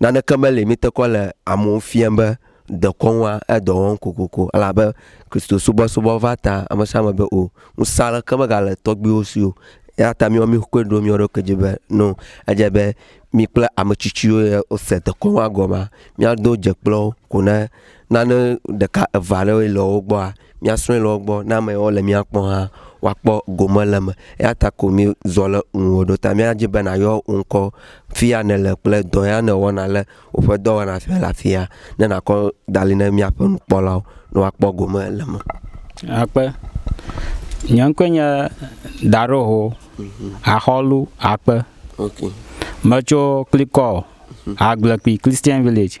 Naneke meli mí te kɔ le amewo fiam be dekɔnua edɔ wɔm kokoko elabe Kristo subɔsubɔ va ta ame sia ame be o. Ŋusẽ aɖeke megale tɔgbuiwo si o. Eya ta míawo míkoe ɖo mía ɖokui dzi be no edze be mí kple ame tsitsiwo ye wose dekɔnua gɔmea, míado dze kple wo ko ne nane ɖeka eve aɖewoe le wo gbɔa, mía srɔ̃e le wogbɔ ne ame yawo le mía kpɔ hã woakpɔ gome le eme. Eya ta ko mí zɔ le ŋuwò ɖo ta mía dzi be na yɔ wò ŋkɔ fiya ne le kple dɔ ya ne wɔna le woƒe dɔwɔna fiya le afia ne na kɔ dali ne mía ƒe nukpɔlawo ne woakpɔ gome le eme. Akpe. Nye ŋkɔe nye Daroho Axɔlu Akpe. Okay. Metso Klikɔ, Agblekpui Christian Village.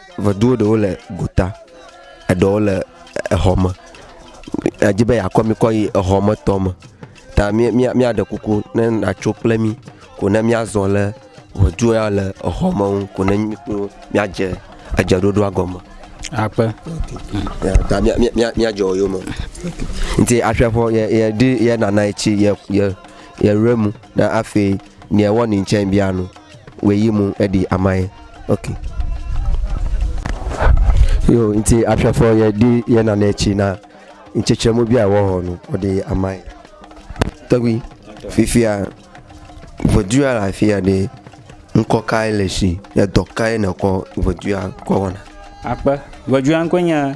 Ŋɛduwo ɖewo le gota, eɖewo le exɔ me. Edzi be yeakɔ mi kɔ yi exɔ me tɔ me ta mía mía míaɖe kuku ne nàtso kple mí ko ne míazɔ le ŋɛdu ya le exɔ me ŋu ko ne mí kple wò míadze edzeɖoɖoa gɔme. Akpe. Ta mía mía míadze wo yome. Nti aƒeaƒɔ yɛ yɛ ɖi yɛ nana etsi yɛ yɛ yɛ remu na afee. nea wɔ nin tsɛ bia nu wɛ yi mu eɖi amaye ok yo nti afiafɔ yɛ ɖi yɛ nanɛ tsi na ntsɛtsɛ mu bia wɔ hɔ nu ɔɖi amaye tɛgui fifia ʋɔdua le afia ɖe ŋkɔ kae le si edɔ kae nèkɔ ʋɔdua kɔ wɔna akpe ʋɔdua ŋkɔe nye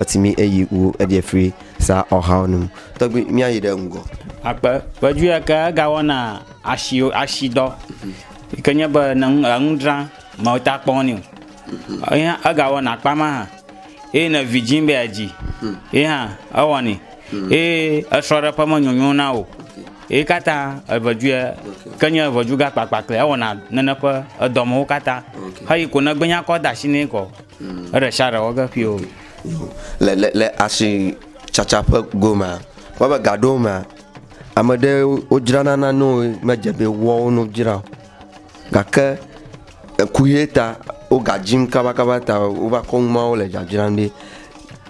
Ɔti mi eyi wu edie fri sa ɔhao nu. Tɔgbi mia yi ɖe ŋgɔ. Akpe ƒe dzu ya ke ega wɔna ashi ashi dɔ yi ke nye be ne enu dra me wo ta kpɔ nɛ o. Ye hã ega wɔna akpa ma hã eye ne vi dzi be ya dzi ye hã ewɔ nɛ eye esrɔ ɖe ƒe me nyonyo na wo ye katã eve dzu ya ke nye eve dzu ga kpakpa klea ewɔna nene ƒe edɔ me wo katã. Eyi ko ne gbe nya kɔ da ashi nɛ kɔ. Le le le asitsatsa ƒe gomea, kpɔbe gaɖewomea, ame ɖewo wodzrana nanewo yi medze be woawo no wodzra o gake eku ʋe ta wo ga dim kabakaba ta wova kɔ nuawo le dzadzram ɖi.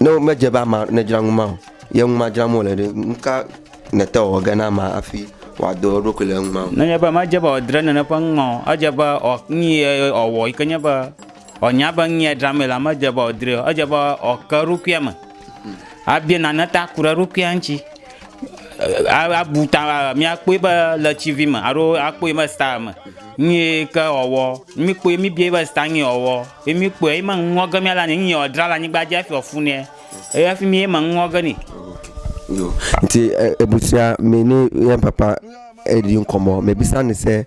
Ne medze be ame aɖe nedzra numa o ye numa dzram wole ɖe, nu ka nète wɔ ge na amea hafi wòado eɖokui le numa me? Wòanya be nu ye dzram la medze be wòdrɔe o. Edze be wòake eɖokui eme abia nane ta ku ɖe eɖokuia ŋuti. Abu ta míakpɔe be le TV me alo akpɔe be star me nu ye ke wòawɔ. Míkpɔe míbiae be star nu ye wòawɔ ye míkpɔe ye me nuŋlɔ ge míala nɛ. Nu ye wòadzra le anyigba dzi hafi wòafu nɛ eya hafi ye me nuŋlɔ ge nɛ. Nti ebusuamɛ ni yɛ papa eɖi ŋkɔ mɔ mebisani se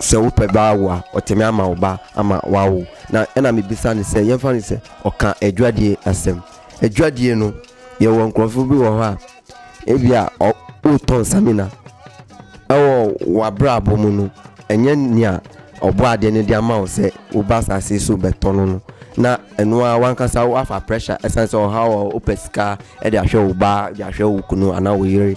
se wo ƒe ba wa ɔ tse mi ama o ba ama wa wo na ena mi bisa ni se yɛn fa ni se ɔ kan e jua die a sem e jua die no yɛ wɔ nkurɔ fi bi wɔ hɔ a e bia ɔ o tɔn sa mi na ɛ wɔ wa bra bo mo no e nye nia ɔ bɔ a de ne dia ma o se o ba sa se so bɛ tɔn no na enua wa nka sa wa fa pressure e sa ni se ɔ ha wɔ o pɛ sika e dia hwɛ o ba dia hwɛ o kunu ana o yere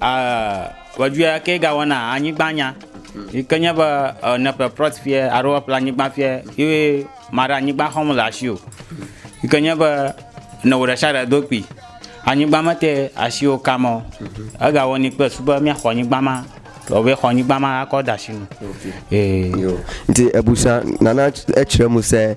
A Vɔdzuia ke ga wɔna anyigba nya. Yi ke nye be ne ƒle prɔt fiɛ alo eƒle anyigba fiɛ ye maɖe anyigba xɔm le asio. Yi ke nye be ne wo ɖeshaɖe do kpi anyigba me te asio kam ɔ, ega wɔni kple su be mia xɔ anyigba ma vɔ be xɔ anyigba ma akɔ da shi nu. Ee. Yo. Nti ebusa nana etsre muse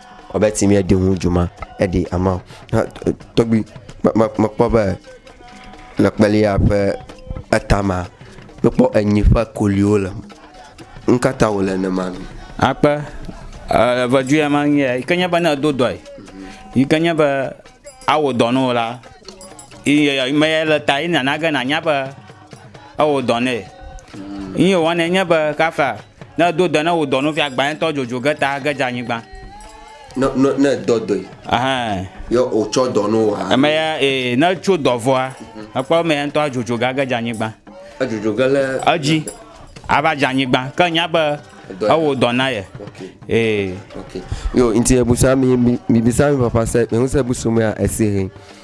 Ɔbɛ ti mìeɖi ŋu dzuma eɖi ama hã tɔgbi mekpɔ be le kpelia ƒe etama mekpɔ enyi ƒe koliwo le eme. Nu ka ta wòle nenema? Akpe e vedu ya ma ŋye yi ke nye be ne edo dɔe yi ke nye be awɔ dɔ na wò la, ye ya me ya le ta ye nana ge nànya be. ewɔ dɔ nɛ. Ŋ yi wɔnɛ nye be kafla ne do dɔ ne wò dɔ nɔvia gbãtɔ dzodzo ge ta ge dze anyigba. Ne ne ne dɔ dɔe. Ahan. Ye wotsɔ dɔ no wa. Eme ya ee ne tso dɔ vɔa ekpɔ eme ya ŋutɔ adzodzo ge age dze anyigba. Adzodzo ge le. Edzi ava dze anyigba ke nya be ewɔ dɔ na ye. Ee. Yo nti ebusa mi mi bisa mi papa se mi ŋusẽ busu mea esi he.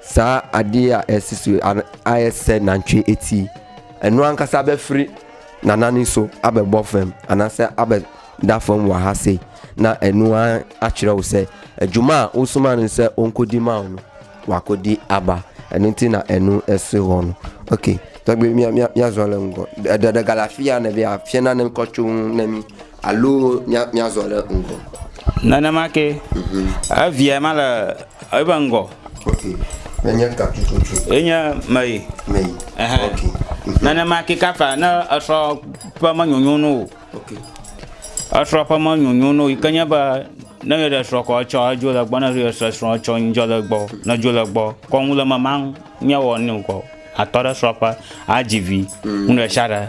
Sa aɖi a esi su a a ese nantsue eti. Enu ankasa be fri nana ni so abe bɔ fem anase abe da fem wa hase na enu a atsrɛ wo se. Ejuma wo suma ni se onko di ma onu wa ko di aba enu ti na enu ese wɔnu. Ok, tɔgbi mia mia mia zɔ le ŋgɔ. Eɖe ɖe gale afi ya ne be afia na ne ŋkɔ tso ŋu ne mi. Alo mía, míazɔ ɖe ŋgɔ. Nenema ke. Mhm. Evia ma le eƒe ŋgɔ. Ok. Nenye katsotso. Enye meyi. Meyi. Ɛhɛn. Ok. Mhm. Nenema ke kafa ne esrɔ̃ ƒe menyonyo no o. Ok. Esrɔ̃ ƒe menyonyo no yi ke nye be ne ye ɖe srɔ̃ kɔ etsɔ edzo le gbɔ ne ye se srɔ̃ tsɔ ŋdzɔ le gbɔ ne dzo le gbɔ kɔnu le memaŋ nye wɔ ne ŋkɔ atɔ ɖe srɔ̃ƒe adzi vi ŋu ɖe sia ɖe.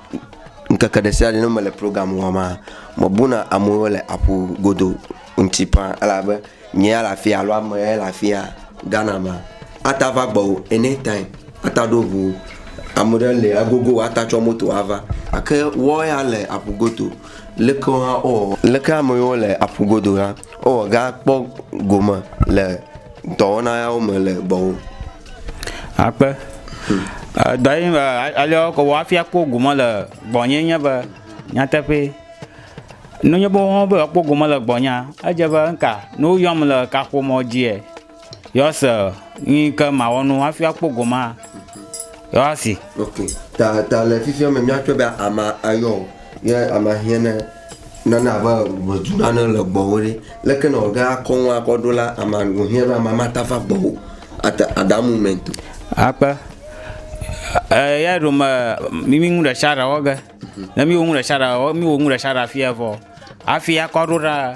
ŋkeke ɖe sia ɖe ne mele program wɔm la, mebuna amewo le aƒu godo ŋuti ƒã elabe nye ya le afia alo ame ya le afia Ghana mea, ate ava gbɔwò any time, ate aɖo ŋu wò. Ame ɖe li agogo wò ate atsɔ moto ava. Gake woawo ya le aƒu godo, leke wo hã wowɔwɔ? Leke ame yiwo le aƒu godo la, wowɔ ge akpɔ gome le dɔwɔna yawo me le gbɔwò? Akpe. Edɔ ye be alea wokɔ wɔ hafi akpɔ gome le gbɔnye nye be nyateƒee. Ne enye be woawo be yewoakpɔ gome le gbɔnyea, edze be ŋka ne woyɔm le kaƒomɔ dzia, yewoase nu yi ke mawɔ na wo hafi akpɔ gomea, yewoasee. Ok. Ta ta le fifia me míatsɔe be amea eyɔ wò ye amea hiã ne. Nane abe ŋɛdu nane le gbɔwò ɖe, leke nɔ ge akɔ ŋu akɔ ɖo la, ame ŋu hiã be ame mata va gbɔwò at that moment o. Akpe. Eya ɖo me mi mi ŋu ɖe sia ɖe wɔ ge. Ne mi wo ŋu ɖe sia ɖe wɔ mi wo ŋu ɖe sia ɖe afia vɔ hafi akɔ ɖo ɖa.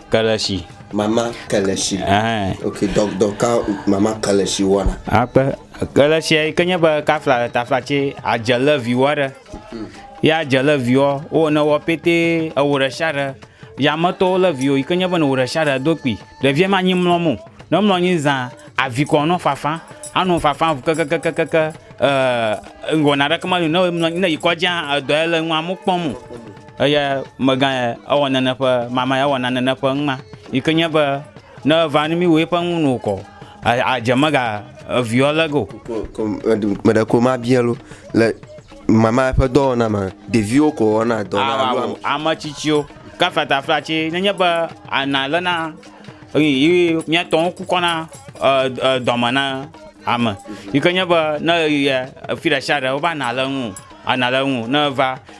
ke le tsi. Mama ke le tsi. Ɛhɛn. Ok, dɔ, dɔ ka mama ke le tsi wɔna? Akpe. Ke le tsia yi ke nye be kafla le tafla tse adze le viwo aɖe. Ye adze le viwo wo ne wɔ pɛtɛ ewo ɖe sia ɖe. Yame tɔwo le viwo yi ke nye be ne wo ɖe sia ɖe do kpi. Ɖevia ma nyi mlɔ mo. Ne mlɔ nyi zã avi kɔ nɔ fafa. Anɔ fafa ŋu kekekekeke e ŋgɔna ɖeke meli ne mlɔ nyi ne yi kɔdzia edɔ ele ŋua mo kpɔm o. Eya megã ya ewɔ nane ƒe mama ya ewɔ nane ne ƒe ŋma yi ke nye be ne va ne mi wo eƒe ŋu no kɔ adze mega eviɔ le go. Me ɖe ko ma bia lo le mama ƒe dɔwɔna ma ɖeviwo ko wɔna dɔ na alo ame tsitsiwo kafata flatsi nenye be ana le na yi miatɔ wo ku kɔna dɔme na ame yi ke nye be ne yi ya efi ɖe sia ɖe wo va na le ŋu ana le ŋu ne va.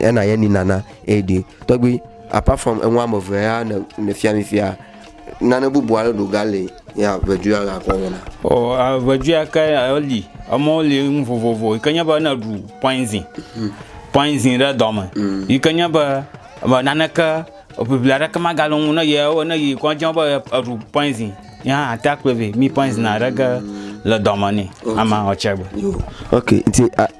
ya na yɛ ni nana eye ɖi tɔgbi apart from enu ame eve ya ne ne fia mi fia nane bubu aɖe ɖo ga le ya vedu ya ga kɔ wɔna. o a vedu ya ke eli emɔwo li nu vovovo yi ke nye be ne ɖu poison poison ɖe dɔ me yi ke nye be me naneke eŋiŋli aɖeke magale wo ŋu ne ye ne yi kɔdzi be ye eɖu poison ye hã ate akpɔɛ vɛ mi poison aɖe ge le dɔ me nɛ ama ɔtse gbe. ok nti a.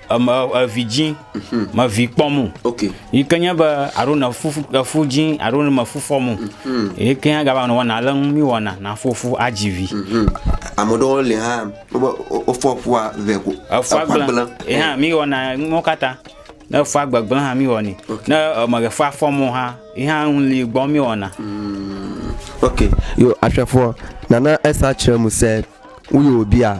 evi dzi mhm. me vi kpɔ mu yi ke nye be alo ne fufu efu dzi alo ne me fufɔ mu mhm. yi ke nya gaba ne wɔna ale ŋu mi wɔna na fufu adzi vi mhm. ame ɖewo le hã wobe wofɔ fua vɛ ko efua gblẽ yi hã mi wɔna mɔ katã ne efua gbegblẽ hã mi wɔni ne eme ɖe fua fɔ mu hã yi hã ŋu li gbɔ mi wɔna ok yo asrafo nana esa kyerɛ mu sɛ woyɔ bia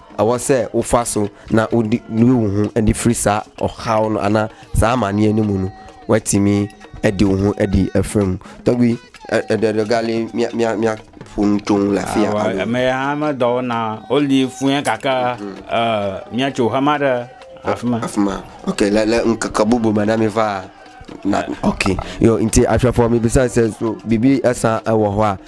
Ewɔ se ufa so na uɖi nui wuhu eɖi fri sa ɔxawo no ana sa ama ni enu munu wɛti mi eɖi wuhu eɖi efe mu. Tɔgbi eɖe ɖe gali mia mia mia ƒonu tsoŋ le afia. Awa eme ya hã me dɔwo na oli fuɛ kaka e mia tso hama ɖe afima. Afima. Ok le le nkeke bubu me na mi va na ok yo nti afia fɔ mi bisa se so bibi esa ewɔ hɔa.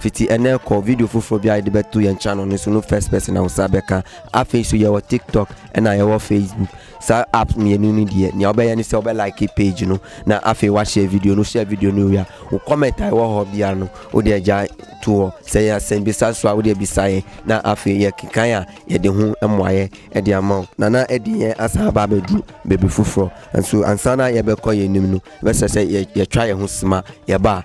Fiti ene kɔ video fofo bia yedi be tu yen channel ni sunu first person na usa be kan. Afi su yewo TikTok ena yewo Facebook. Sa app mi enu ni die ni obe yani se obe like page nu na afi wa share video nu share video nu ya. U comment ai wo ho bia nu. U de ja tu o se ya sen bi sa swa u de bi sa ye na afi ye kan ya ye de hu emo ye edi amao. Nana edi ye asa ba be du be bi fufro. Ansu ansana ye be ko ye nimnu. Be sese ye ye twa ye hu sima ye ba.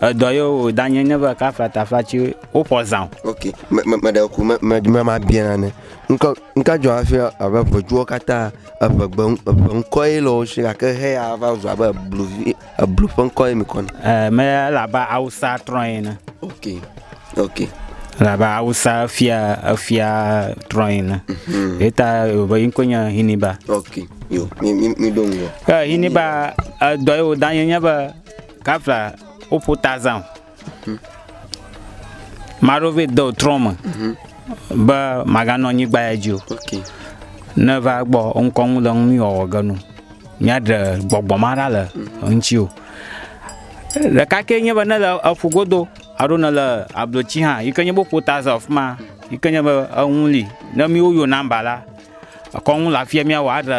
Edɔ ye o danye nye va ka fata fatsi wo ƒɔ zã o. Ok me me me ɖe ku me me me ma bia nane. Ŋka ŋka dzɔ hafi abe ʋedzuwo katã eve gbe eve ŋkɔ ye le wo si gake he ya va zu abe ebluvi eblu ƒe ŋkɔ ye mi kɔ na. Ɛ me ele abe awusa trɔ ene. Ok ok. Ele abe awusa fia efia trɔ ene. Mhm. Eta be ŋkɔ nye Hiniba. Ok yo mi mi mi do ŋgɔ. Ke Hiniba edɔ ye o danye nye be Kafla woƒo ta zã o. Ame aɖewo vɛ de trɔ me be maganɔ anyigba ya dzi o. Ne va gbɔ ŋkɔ ŋu le ŋu mi wɔwɔ ge nu míaɖe gbɔgbɔ ma ɖa le ŋuti o. Ɖeka ke nye be ne le eƒu godo alo ne le ablotsi hã yi ke nye be woƒo ta zã afi ma yi ke nye be eŋu li ne míwo yo nɔmba la ekɔ ŋu le afia míawɔ aɖe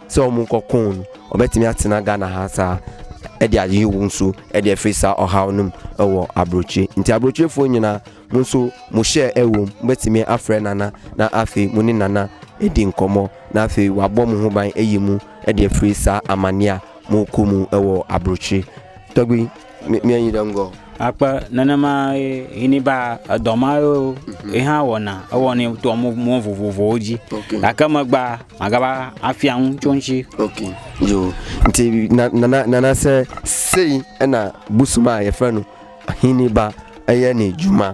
Sɛ ɔ mu ŋkɔ koŋ ɔ be timi a tsina Ghana ha sa eɖi a yi wu ŋsu eɖi efe sa ɔ ha ɔ num ewɔ abroce nti abroce fo nyina mu ŋsu mu shɛ ewo mu be timi a frɛ nana na afe mu ni nana eɖi ŋkɔ mɔ na afe wa bɔ mu hobain eyi mu eɖi efe sa amania mu ku mu ewɔ abroce tɔgbi. Míayi ɖe ŋgɔ. Akpe nenema ye hini ba edɔ ma yo mhm. ye hã wɔna ewɔ ne to mo mo vovovowo dzi gake megba magaba afia ŋu tso ŋtsi. ok yo nti nana nana se seyi ena busuma yefenu hini ba eye ni juma.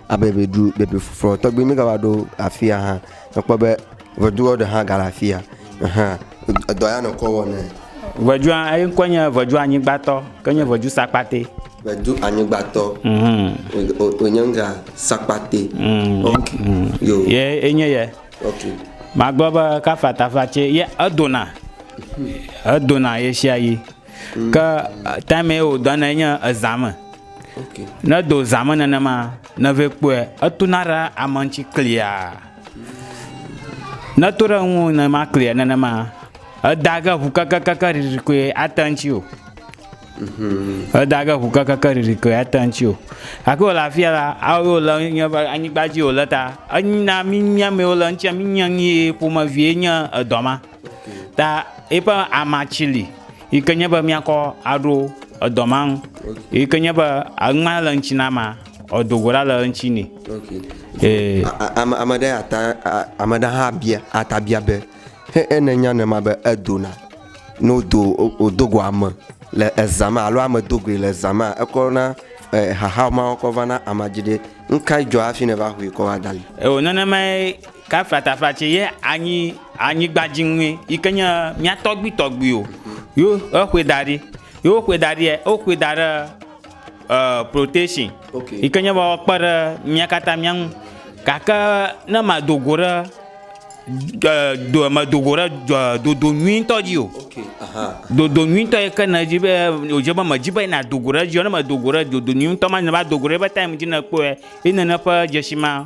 Abe ŋedu bebefufuɔ tɔgbi mi gava ɖo afia hã, ekpɔ be ŋeduɔ ɖe hã gale afia hã edɔ ya nɔkɔ wɔ nɛ. Ŋedua eyi ŋkɔe nye ŋedu anyigbatɔ ke nye ŋedu sakpate. Ŋedu anyigbatɔ wònye ŋga sakpate. Ok yo. Ye enye yɛ. Ok. Magblɔ be kafatafa tse ye edona edona ɣeshiaɣi ke time ye wodɔnɛ nye ezã me. Ne do zã me nenema, ne vɛ kpɔe, etona ɖe ame ŋuti klia. Ne eto ɖe ŋuwò nenema klia nenema, eda ge ŋu kekekekeŋ ɖiɖi koe ate ŋuti o. Eda ge ŋu kekekekeŋ ɖiɖi koe ate ŋuti o. Gake wòle afi ya la, ewɔe wòle nye ƒe anyigba dzi wòle ta. Ena mínya mɛwo le eŋuti mínya nu ye ƒomevie nye edɔ ma. Ta eƒe amatsi li yi ke nye be míakɔ aɖo edɔ ma ŋu yi ke nye be ŋma le eŋuti na amea edo go ɖa le eŋuti nɛ. Ee. Ame ame ɖe ata ame ɖe hã bia ata bia be he ene nya ne ma be edona ne wodo wodo go ame le eza me alo ame do goe le eza me ekɔ na xaxa ma kɔ va na amedzro ɖe. Nukae dzɔ hafi ne va ƒoe kɔ va da li? Eo nenemae. Ka flataflatse ye anyi anyigba dzi ŋue yi ke nye mía tɔgbuitɔgbuiwo yo eƒoe da ɖi. Yo woƒoe da ɖia, woƒoe da ɖe e protection yi ke nye be woakpe ɖe mía katã mía ŋu. Gake ne mado go ɖe e do medo go ɖe e dodo nyuitɔ dzi o. Dodo nyuitɔ yi ke nedzi be wodze be medzi be nado go ɖe edzi o. Ne medo go ɖe dodo nyuitɔ ma dzi ne va do go ɖe eƒe time dzi ne ekpɔe ye nene ƒe dzesi ma.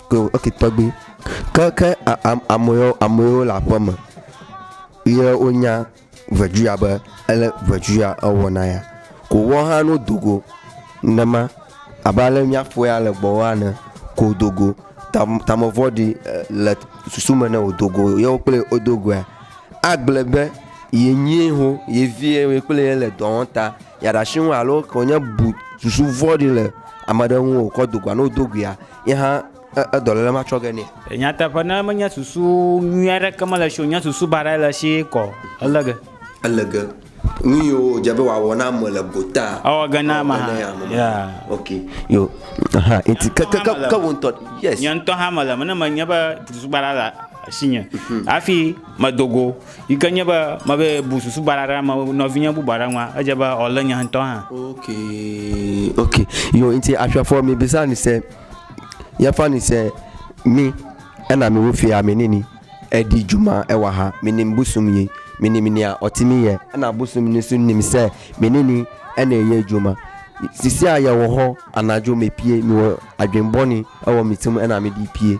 ok tɔgbi ke ke amewo amewo le aƒeme ye wonya ʋeduya be ele ʋeduya ewɔ na ya ko woawo hã no dogo nema abe ale miaƒo ya le gbɔwɔ ene ko dogo ta tame vɔɖi le susu me ne wò dogo ye wo kple wo dogoe agblɔe be ye nyie ho ye vie ye kple ye le dɔ wɔm ta yeɖe asi ŋu alo wonye bu susu vɔ̃ɖi le ame aɖe ŋu wòkɔ dogoa ne wodogoea. Ye hã edɔléle ma tsɔ ge nɛ. Nyateƒe, ne menye susu nyui aɖeke mele esi o, nye susu baɖae le esi kɔ. Ele ge. Ele ge. Nu yiwo wòdze be wòawɔ na ame le gotaa, Ewɔ ge na ame hã. Ya. Ok. Yo. Aha. Enti ke, ke, ke, ke wò ŋutɔ. Yes. Nye ŋutɔ hã mele eme ne menye be susu baɖa le asinye hafi medo go. Yi ke nye be mebe bu susu baɖa ɖe ame nɔvinye bubu aɖe ŋua, edze be wòalé nye ŋutɔ hã. Ok, ok. Yo ŋti aƒia fɔ mi bisa ni se, ya fa ni se mi ena mi wo fia mi nini edi juma ewa ha mi nim busu mi mi ni mi nia ɔti mi yɛ ena busu mi ni su nim se mi nini ene yɛ juma sisia yɛ wɔ hɔ ana jo mi pie mi wɔ adwin bɔ ni ewɔ mi tum ena mi di pie.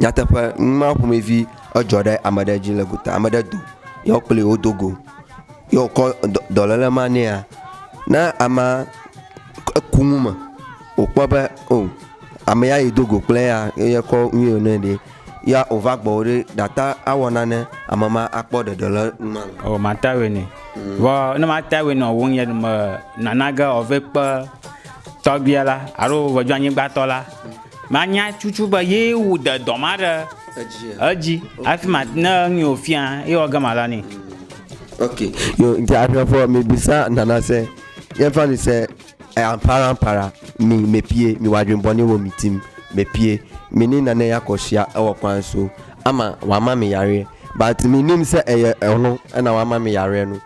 Nyateƒe, numa ƒomevi edzɔ ɖe ame ɖe dzi le gota. Ame ɖe do ye wo kplii wodo go ye wòkɔ dɔ dɔléle ma nɛa, ne amea eku nu me wòkpɔ be oo ame ya yi do go kple yea eye kɔ nu ye nɛ ɖe ya wòva gbɔwò ɖe nàte ŋu awɔ nane ame ma akpɔ ɖeɖe le nu ma me. Oo mate ŋu awɔe nɛ. Vɔ ne mate ŋu awɔe nɛ o wò ŋyɛ me nanage ɔvekpe tɔgbuia la alo ŋɛdzoanyigbatɔ la Manya tutu be ye wo de dɔ ma ɖe edzi hafi ma ne nye wo fia ye wɔ gama la ne. Ok, yo nti ahwɛ fɔ mi bisa nana se ye fa ni se e ampara ampara mi me pie mi wa dwen bɔni wo mi tim me pie mi ni nane ya kɔ shia e wɔ kwan so ama wa ma mi yare but mi nim se e ye e hlo e na wa ma mi yare nu.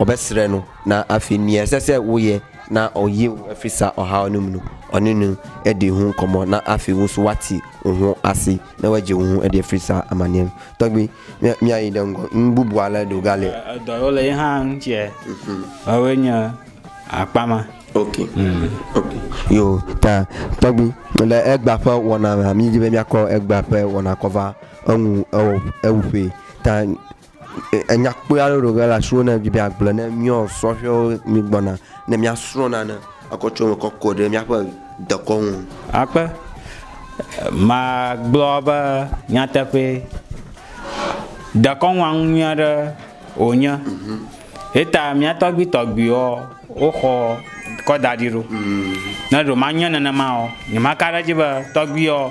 Ɔbe srɛ nu na afi miɛ sese woyɛ na ɔ yi ŋu efi sa ɔha ɔ num nu ɔ ni nu eɖi ŋu kɔmɔ na afi ŋu su wati ŋu asi ne wɛ ji ŋu eɖi efi sa amaniɛ nu tɔgbi mia mia yi ɖe ŋgɔ ŋ bubu ale ɖo ga le Edɔ yi wo le yi hã ŋ ciɛ ɔ woe nye akpa ma. Ok ok yo ta tɔgbi le egba ƒe wɔna mea mi dzi be mia kɔ egba ƒe wɔna kɔ va eŋu ewɔ ewuƒe ta. Enya kpui aɖe ɖo ge le asiwò ne edzi be yeagblɔ ne mía sɔhɛwo mi gbɔna ne mía srɔ̃ nane ekɔ tso eme kɔ kɔ ɖe mía ƒe dekɔ ŋu. Akpe. Magblɔ be nyateƒe dekɔnua ŋu nyui aɖe wònye. Yeta mía tɔgbui tɔgbuiwo woxɔ kɔ da ɖi ɖo. Ne ɖewo manye nenema o, nyemaka ɖe edzi be tɔgbuiwo.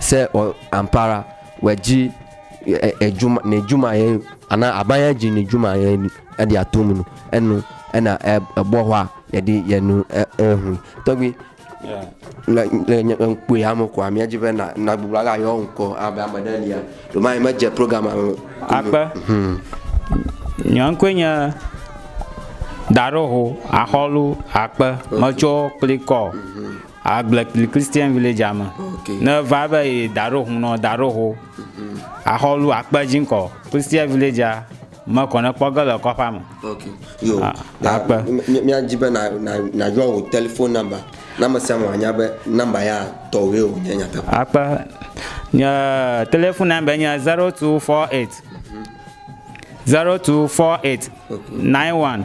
Se ɔ ampara wɛ ji e e juma ne juma ye ana abanya ji ne juma ye ni edi atomu no enu ena e ebɔwa yedi yenu e ehu tɔgbi le le nye ŋkpui ame ko amia ji be na na gbogbo aga yɔ ŋkɔ abe ame ɖe lia doma ye medze program ame akpe nye ŋkɔe nye daɖoho axɔlu akpe metsɔ klikɔ Agble kpli Christian Village a me. Okay. Ne va be yi da ɖo hun nɔ da ɖo ho. Axɔ lu akpe dzi ŋkɔ. Christian Village a me kɔ ne kpɔ ge le kɔƒe a me. Okay. Yo. Ah, Na- akpe. mi- mi- Mía dzi be na na na yɔ wò telephone number. Na ame sia ame wòanya be number ya tɔwòe wònye nyateƒe. Akpe. Nye telephone number nye 0248 0248 91